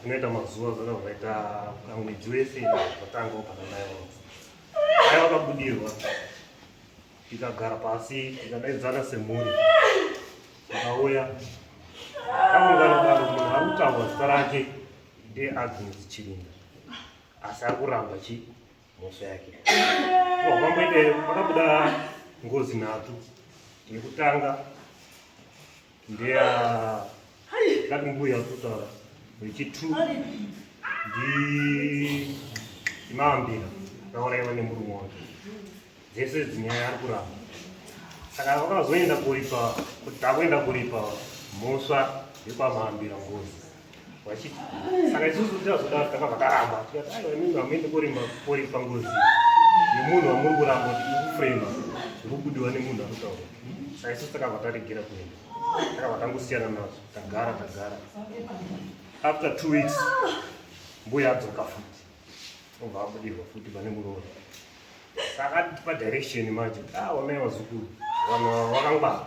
zvinoita mazuva zvona zvakaita mwedzi wese zvatanga kana mai vangu mai vakabudirwa tikagara pasi tikadaidzana semhuri tikauya taungana daro munhu ari kutaurwa zita rake ndeagnes chirinda asi ari kuramba chi mhosva yake pamboite pakabuda ngozi nhatu yekutanga ndeya ngati mbuya kutaura vechitu ndi imambira akauraiwa nemurume wake dzese dzinyaya ari kuramba saka vakazoenda kuripa kuti takuenda kuripa mhosva yekwamambira ngozi vachiti saka isusu tinazoda takabva takaramba tikati aiwa imimi hamuende korima kori pangozi yemunhu wamuri kuramba kuti ikufrema zvekubudiwa nemunhu anotaura saka isusu takabva taregera kuenda takabva tangosiyana nazvo tagara tagara after two weeks mbuya adzoka futi obva abudirwa futi pane muroora saka atipa direction manje ah wamai wazukuru vanhu vakangwara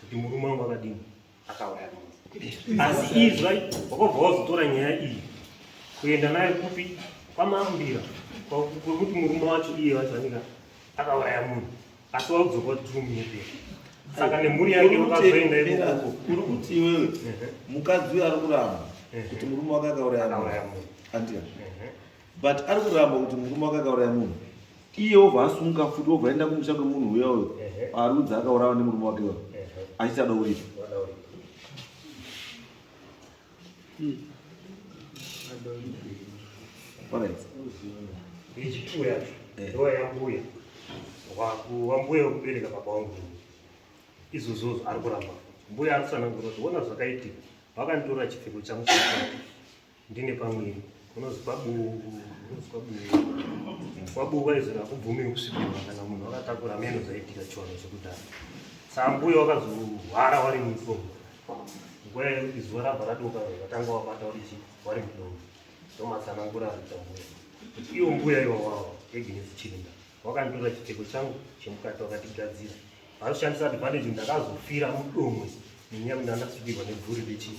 kuti murume wangu akadini akauraya asi izva wakobva wazotora nyaya iyi kuenda nayo kupi kwamambira kwekuti murume wacho iye wacho anenge akauraya munhu asi waudzoka kuti tiri munyepera saka nemhuri yake vakazoenda ikoko uri kuti iwewe mukadzi uyo ari kuramba kuti murume wake akauraya munhu andia but ari kuramba kuti murume wake akauraya munhu iye obva asunga futi obva aenda kumusha kwemunhu uya uyo arudzi akaurawa nemurume wake wa achiti ada uripo ichituya ndoa yambuya wambuya wekubereka baba wangu izvozvozvo ari kuramba mbuya ari kusanangura kuti ona zvakaitika vakanditora chipfeko changu Ndine pamwiri unonzi kwabuu unonzi kwabuu kwabuu vaizoti hakubvumiwi kusvikirwa kana munhu wakatakura meno zaitika chiwano chekudhara sambuya wakazohwara wari mumifomo nguva yekuti zuva rabva radoka vatanga wabata uri chi wari mudomo ndomatsanangura aita mbuya kuti iwo mbuya iwawawa eginesi chirinda wakanditora chipfeko changu chemukati wakatigadzira vakushandisa advantage ndakazofira mudomo nenyaya kuti andasvikirwa nebvuri rechii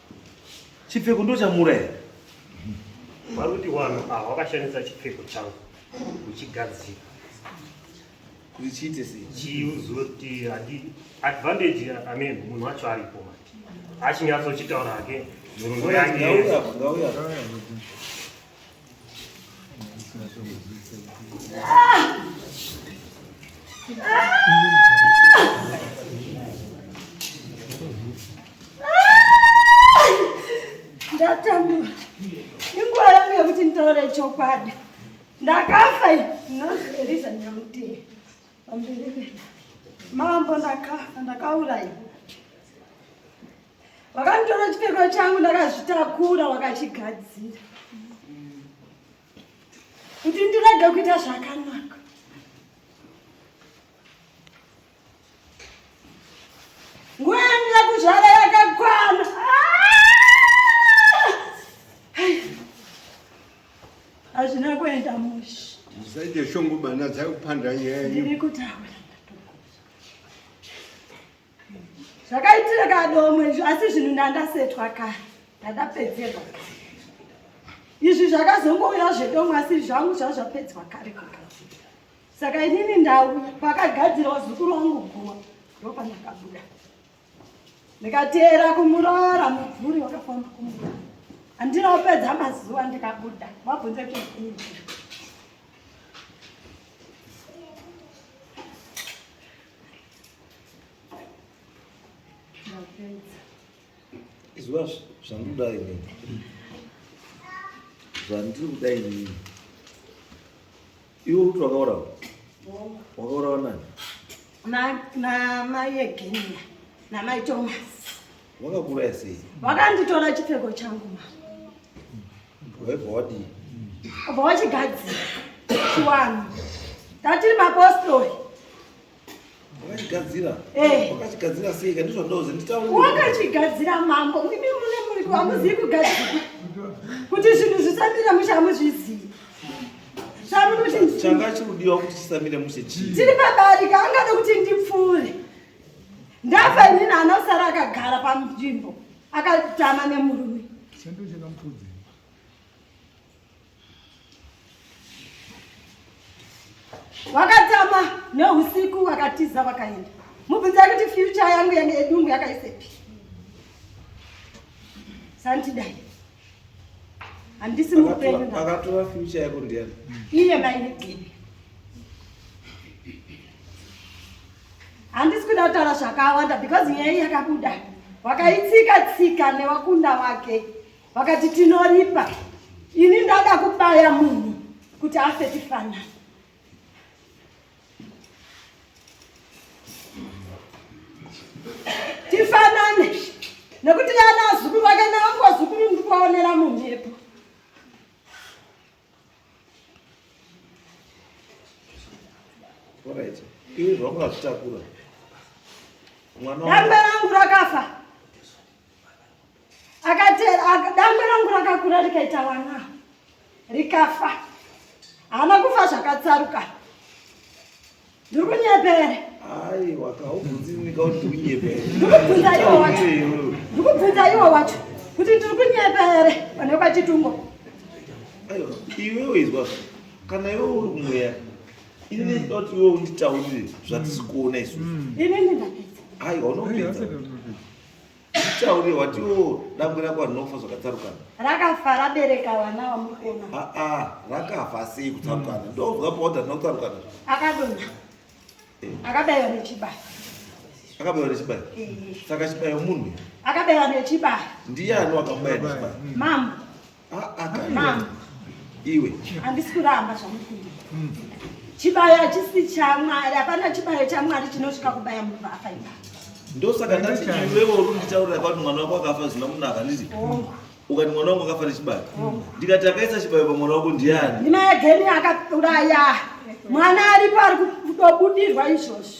Chipfeko ndochamura here? Varuti wano awa wakashandisa chipfeko changu uchigadzira kuti chiite sei? Chiuzoti hadi advantage I mean munhu wacho aripo mati. Achinyatsokitaura hake nhoroondo yake. Ngauya, ngauya. Ndatambura. Inguva yangu yekuti nditaure chokwadi. Ndakafa ndinozviverisa nyamutii. Pamberi mambo ndakafa ndakauraiwa. Vakanditora chipfeko changu ndakazvitakura wakachigadzira kuti ndirege kuita zvakanaka. Nguva yangu yakuzvara yakakwana. Hazvina kuenda mushe. Musaite shungu bana dzakupanda nyaya. Ndiri kutaura. zvakaitira kadomwe izvi asi zvinhu ndandasetwa kare ndandapedzerwa kare izvi zvakazongouya zvedomwe asi zvangu zvava zvapedzwa kare kugadzira saka inini ndauya pakagadzirwa zukuru wangu guwa ndopandakabuda ndikateera kumurara mubvuri wakafamba kumurara andinopedza mazuva ndikabuda mabvunze kuzii izwa zvandoda ini zvandiri kuda inini iwe kuti wakaurawa wakaurawa nani namai egenia namai thomas wakakuraya sei wakanditora chipfeko changu ma waibva wadii obva wachigadzira chiwanu ndatiri mapostori wakachigadzira eh. wakachigadzira sei ka ndizvo ndozi nditaure wakachigadzira mambo imi mune muri kwamuzivi kugadzira kuti zvinhu zvisamira mushe hamuzvizivi changa chirudiwa kuti chisamire mushe chii tiri pabarika angada kuti ndipfuure ndafa inini anosara akagara panzvimbo akatama nemurume Wakatama neusiku wakatiza wakaenda. Mubvunza kuti future yangu yange edumbu yakaisepi. Santidai. Handisi mupenyu. Akatora future yako ndiani? Iye mai Nixini. Handisi kuda kutaura zvakawanda because nyaya yakabuda. Wakaitsika tsika newakunda wake. vakati tinoripa ini ndada kubaya munhu kuti afe tifanana tifanane nekuti yana azukuru vake naangozukuru ndikuvaonera mumhepo Alright. Ini zvakuzvitakura. Mwana wangu- Dambe rangu rakafa dangwe rangu rakakura rikaita vana rikafa haana kufa zvakatsaruka ndiri kunyepere ndikubvunza iwo wacho kuti ndiri kunyepere pane kwachitungo iwewe izwa kana iwe uri kumweya ini ndinoda kuti iwe unditaurire zvatisi kuona isusu aiwa unopedza Tauri wati wo dangwe rako rinofa zvakatsarukana. Rakafa rabereka vana vamukona. Ah ah rakafa sei kutsarukana. Mm. Ndovwa powder rinotsarukana. Akadona. Eh. Akabayiwa nechibayo. Akabayiwa nechibayo. Eh. Saka chibayo munhu. Akabayiwa nechibayo. Ndiyani wakabayiwa nechibayo? Mambo. Mama, iwe handisi kuramba zvamukundira hmm. chibayo hachisi chamwari hapana chibayo chamwari chinosvika kubaya munhu vaafa ipa ndosaka ndati iwewo uri kunditaurira kwati mwana wako akafa zvina kunaka handiti ukati mwana wangu akafa nechibayo ndikati akaisa chibayo pamwana wako ndiani ndimai ageni akauraya mwana aripo ari kudobudirwa izvozvo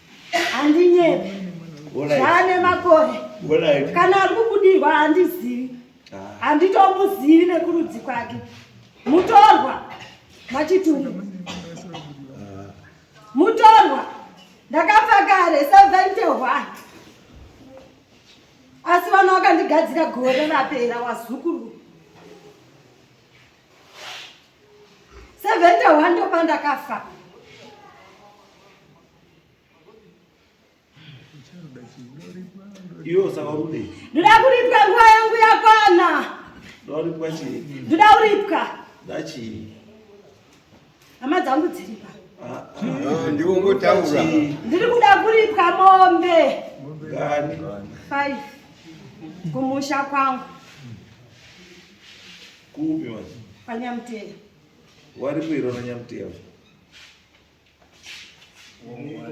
handinyepi zvaane makore kana ari kubudirwa handizivi ah. handitomuzivi nekurudzi kwake mutorwa machitumi ah. mutorwa ndakafa kare sevente one asi vana vakandigadzira gore rapera wazukuru sevente one ndopandakafa ndoda kuripwa nguva yangu yakwana ndoda kuripwa hama dzangu dziripa ah, ah. ndiri kuda kuripwa mombe five kumusha kwangu kupi manje kwanyamteya wari kuirona nyamteya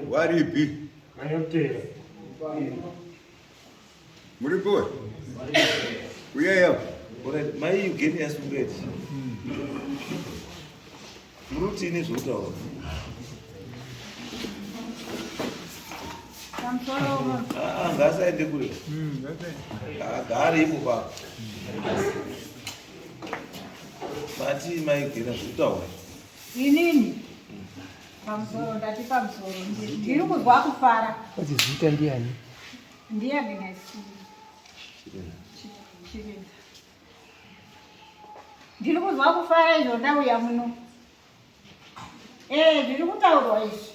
Waripi? Mayotera. Muri kuwe? Uyaya. Alright, mai ugeni yasungeti. Muri kuti ini zvokutaura. Ah, ngasaende kule. Agare ipo pa. Mati mai ugeni zvokutaura. Inini pamusoro ndati pamusoro ndiri kuzwa kufara. Kuti zita ndiani? Ndiani nasi? Chirinda. Ndiri kuzwa kufara izvo ndauya muno. Eh, ndiri kutaurwa izvi.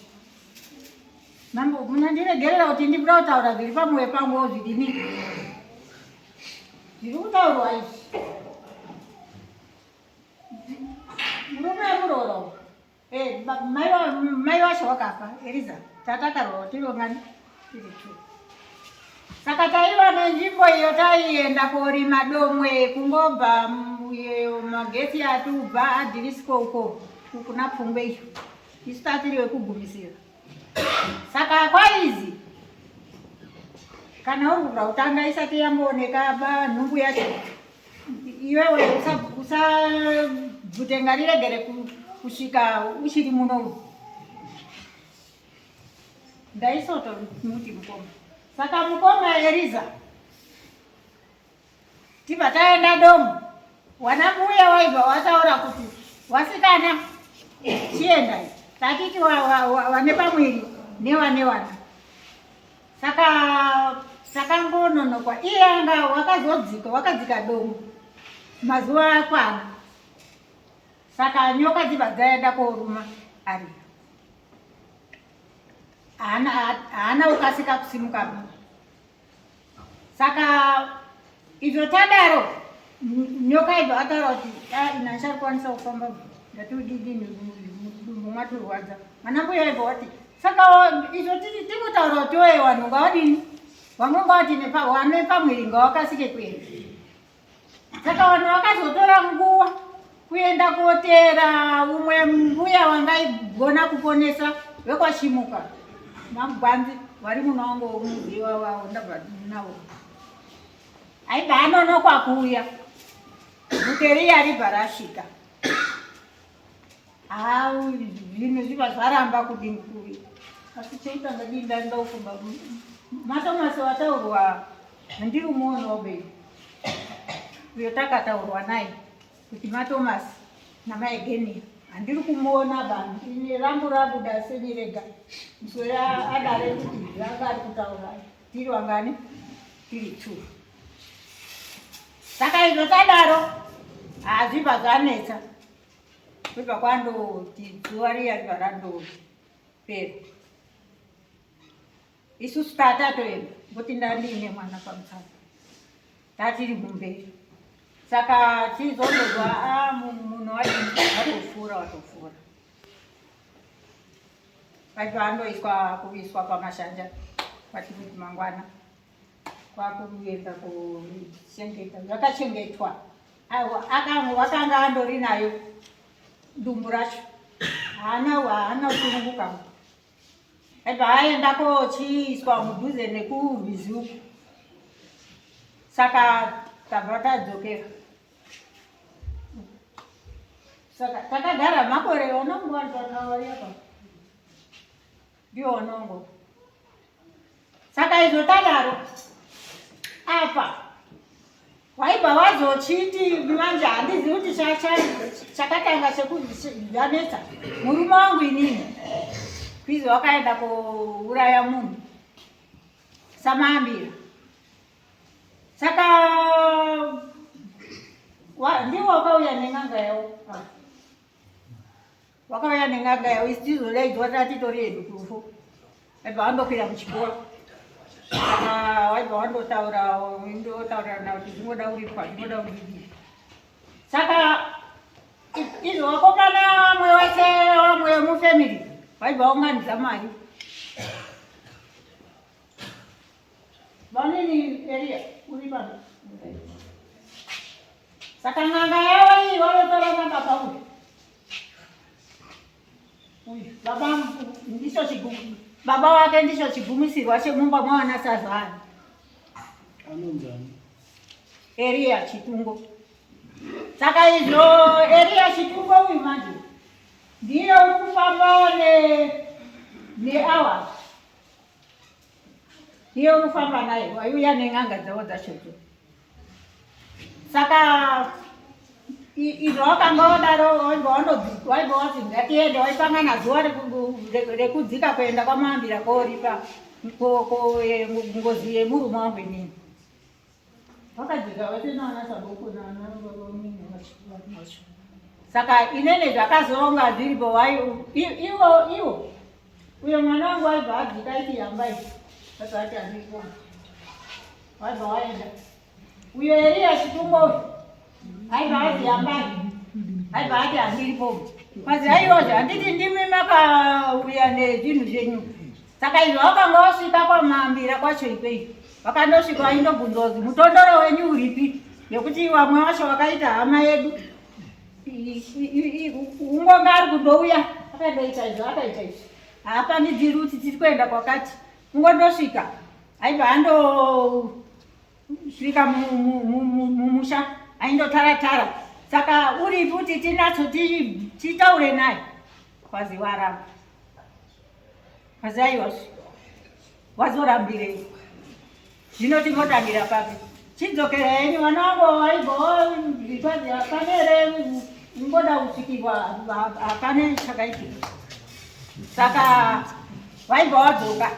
Mambo, munandiregerera kuti ndikuda kutaura zviri pamoyo pangu zvidini? Ndiri kutaurwa izvi. Murume wemuroora uyu. Eh, ba- mai wa- mai wacho wakafa Eliza. Tata karoora tiriwo ngani? Tiri two. Saka taiva nenzvimbo iyo taienda korima domwe kungobva mm, iyo magetsi atubva adhirisiko uko kuna pfungwe iyo. Isu tatiri wekugumisira. Saka kwaizi kana uri kuda kutanga isati yambooneka ba nhumbu yacho iwewe usabvute ngariregere kusvika uchiri muno ndaisoto muti mukoma saka mukoma eriza tibva taenda domo wana mbuya waibva wataura kuti wasikana chiendai tatiti wane pamwiri newane wana saka takangononokwa iye anga wakazodzika wakadzika domo mazuva akwana saka nyoka dzibva dzaenda koruma ariyo haana kukasika kusimuka saka Izvo tadaro nyoka ibva ataura kuti ah, ina achakwanisa kufamba ndatiudidi mudumbu mwatirwadza mwana mbuya ibva wati saka izvo titi tikutaura kuti oye vanhu ngavadini vamwe ngavati nepamwiri ngavakasike kuenda saka vanhu vakazotora nguva kuenda koteera umwe mbuya wangaigona kuponesa vekwachimuka magwanzi vari muno wangu womuziva wavo ndabva navo aibva anonokwa kuuya muteriya aribva rasvika ha zvinhu zviva zvaramba kudini kuuya asi cheitanga dii ndaindaufumba matomasi wataurwa handiri muono wobei uyo takataurwa naye kuti maThomas namaEgenia handiri kumuona vanhu ini rangu rabuda senyirega muswere adare kuti ranga ari kutaura tiri wangani tiri two saka izvo tadaro hazvibva zvanetsa zvibva kwandoti zuva riya riva randopera isusu tatatoenda ngokuti ndandiine mwana pamusana tatiri kumberi saka tizondozwa ah, munhu watofura watofura vati vandoiswa kuviswa pamashanja vati kuti mangwana kwakuenda kuchengeta vakachengetwa vakanga andori nayo dumbu racho haana haana kusununguka Paaenda kochiiswa mudhuze nekurwizi uku, saka tabva tadzokera. Saka takagara makore onongo ndiwo onongo saka izvo tadaro apa waibva wazochiti manje handizi kuti chakatanga chekuzvanetsa murume wangu inini kwizi wakaenda kuuraya munhu samaambira saka ndiwo wakauya nen'anga yawo wakauya nen'anga yavo isi tizodaidzwa tatitori yedu kurufu aibva wandokwira kuchikoro kana waibva wandotaura ndotaurirana kuti zvingoda kuripwa zvingoda kudii saka izvo wakomana vamwe wese vamwe mufamily vaibva waunganidza mari vanini eria uri pano saka n'anga yavo iyi vanotora n'anga pauri baba ndicho chigumi baba wake ndicho chigumisirwa chemumba mwana sazana anonzani eriya chitungo saka izvo eriya chitungo uyu manje ndiye uri kufamba ne neawa Iye unofamba naye waiuya nen'anga dzavo dzachodzo. Saka izvo wakanga wadaro waiva wati ngatiende waipangana zuva rekudzika kuenda kwamambira koripa ngozi yemurume wangu inini. saka inene zvakazoronga zviripo wai iwo iwo uyo mwana wangu waibva adzika iti yambai asaati aniko waibva waenda uyo eriya chitumbo uyu Haiva hati yambai. Haiva hati handiripo. Kazi haiwa handiti ndimi makauya nezvinhu zvenyu. Saka izvo wakanga wasvika kwamambira kwacho ikweyi. Wakandosvika waindobvunzwa kuti mutondoro wenyu uripi nekuti vamwe vacho vakaita hama yedu ungonga ari kundouya akandoita izvo akaita izvo haapandidziri kuti tiri kuenda kwakati ungondosvika aibva ando Svika mumusha aindotara tara saka uri futi tinatso titaure naye kwazi waramba kwazi aiwa wazorambirei zvino tingotangira papi chidzokera henyu mwana wangu aibhoitwazi hapane here ngoda kusvikirwa hapane chakaitika saka vaibva vadzoka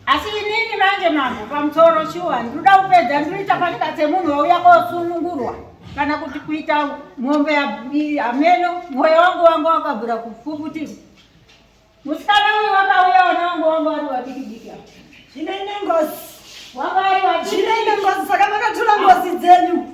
asi inini manje mambo pamusoro shuwa ndinoda kupedza ndinoita panyika dzemunhu wauya kosunungurwa kana kuti kuita mombe hameno mwoyo wangu wangu wakabvura kufufutima musikana uyu wakauya ona wangu wangu wari wadikidiki zvinoine ngozi wanga wari wadikidiki zvinoine ngozi saka makatura ngozi dzenyu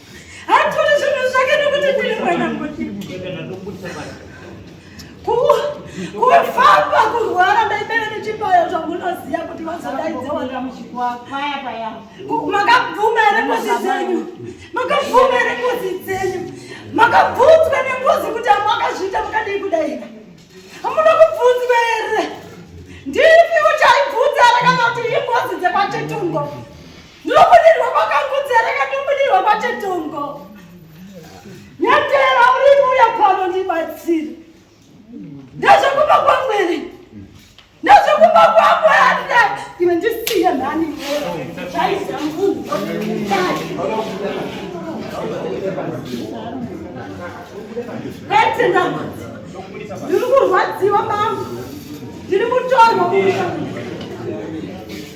kufamba kurwara ndaibere nechipayo zvamunoziva kuti vazodaidzaamakabvuma here ngozi dzenyu makabvuma here ngozi dzenyu makabvunzwa nengozi kuti amakazviita makadii kudaira hamuna kubvunzwa here ndipi uchaibvunza arakana kuti ingozi dzekwachetungo Ndinobudirwa kwakangudzera kandibudirwa kwachetongo. Nyatera uri kuuya pano ndibatsire. Ndazvakupa kwamwene. Ndazvakupa kwamwene. Iwe ndisiye mhani. Zvaizira munhu. Ndiri kurwadziwa mambo. Ndiri mutorwa.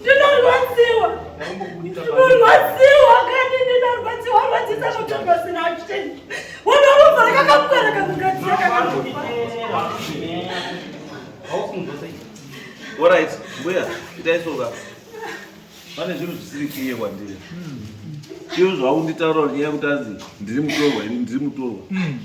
ndinorwadziwa ndinorwadziwa kani ndinorwadziwa rwadzisa kutorwa zina achiteni unoruva rakakakukara kakugadzira orit mbuya itaisoka pane zvinhu zvisiri kiye kwandiri iyo zvaunditaura nyaya yekuti anzi ndiri mutorwa ini ndiri mutorwa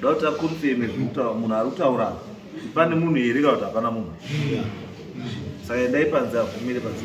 Dauta confirm zvekutaura munhu ari kutaura pane munhu here kana kuti hapana munhu saka endai panze abvumire panze